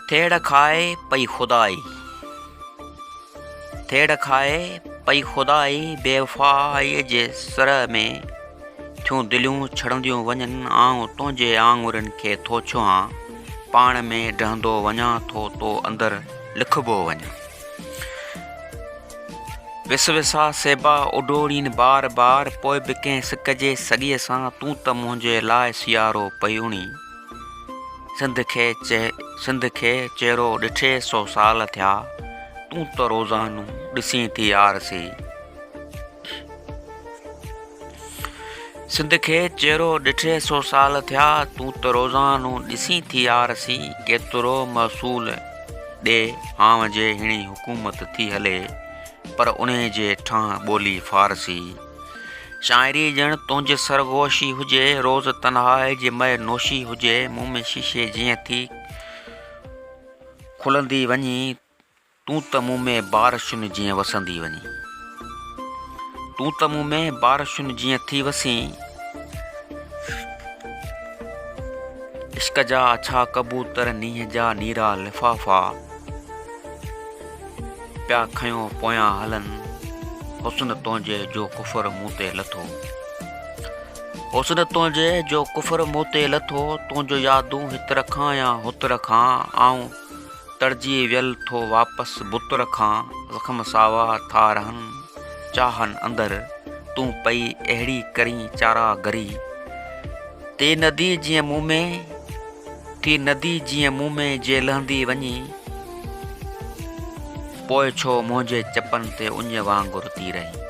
ٿيڙ کائي پئي خدائي ٿيڙ کائي پئي خدائي بيوفائيء جي سر ۾ ٿيون دليون ڇڙنديون وڃن آئون تنهنجي آڱرين کي ٿو ڇهان پاڻ ۾ ڊهندو وڃان ٿو تو اندر لکبو وڃان وس وسا سيبا اڊوڙين بار بار پوء به ڪنهن سڪ جي سڳيء سان تون ته منهنجي لاء سيارو پئي اڻين. سنڌ کي چيرو ڏٺي سو سال ٿيا، تون ته روزانو ڏسين ٿي آرسي. سنڌ کي چيرو ڏٺي سو سال ٿيا تون ته روزانو ڏسين ٿي يار سي ڪيترو محصول ڏي هانء جي هيڻي حڪومت ٿي هلي پر انهي جي ٺانهه ٻولي فارسي شاعري ڄڻ تنهنجي سرگوشي هجي روز تنهائي جي مئي نوشي هجي مون ۾ شيشي جيئن ٿي کلندي وڃي تون ته مون ۾ بارشن جيئن وسندي وڃين تون ته مون ۾ بارشن جيئن ٿي وسين عشق جا اڇا ڪبوتر نينهن جا نيرا لفافا پيا کنيو پويان هلن حسن تنهنجي جو ڪفر مون تي لٿو حسن تنهنجي جو ڪفر مون تي لٿو تنهنجو يادون هت رکان يا هت رکان آئون تڙجي ويل ٿو واپس بت رکان زخم ساوا ٿا رهن چاهن اندر تون پئي اهڙي ڪرين چارا گري تي ندي جيئن مون ۾ ٿي ندي جيئن مون ۾ جي لهندي وڃي پوء ڇو منهنجي چپن تي اڃ وانگر تي رهين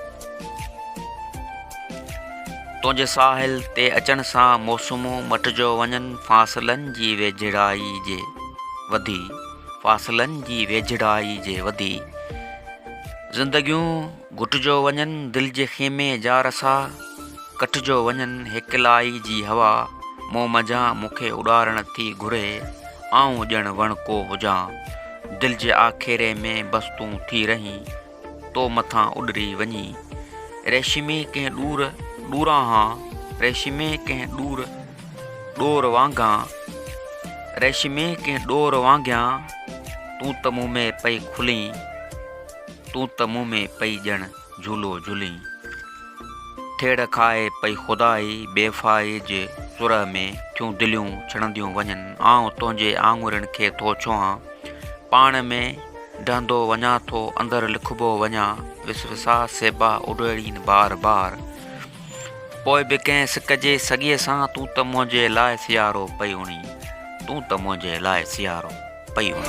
تنهنجي ساحل تي اچڻ سان موسمون مٽجو وڃن فاصلن جي ويجهڙائي جي وڌي فاصلن جي ويجهڙائي جي وڌي زندگيون گهٽجو وڃن دل جي خيمي جا رسا ڪٽجو وڃن هيڪلائي جي هوا مون منجهان مون کي اڏارڻ ٿي گهري آئون ڄڻ وڻڪو هجان دل جي آکيري ۾ بس تون ٿي رهين تو مٿان اڏري وڃي. ريشمي ڪنهن ڏور ڏوران ها، ريشمي ڪنهن ڏور ڏور وانگان، ريشمي ڪنهن ڏور وانگيان، تون ته مون ۾ پئي کلين، تون ته مون ۾ پئي ڄڻ جھولو جھلين. ٿيڙ کائي پئي خدائي، بيوفائيء جي سرهه ۾ ٿيون دليون ڇڻنديون وڃن، آئون تنهنجي آڱرين کي ٿو ڇهان، پاڻ ۾. ڊهندو وڃان ٿو اندر لکبو وڃان وس وساء سيبا اڏويڙين بار بار پوء به ڪنهن سڪ جي سڳيء سان تون ته منهنجي لاء سيارو پئي اڻي تون ته منهنجي لاء سيارو پئي اڻي.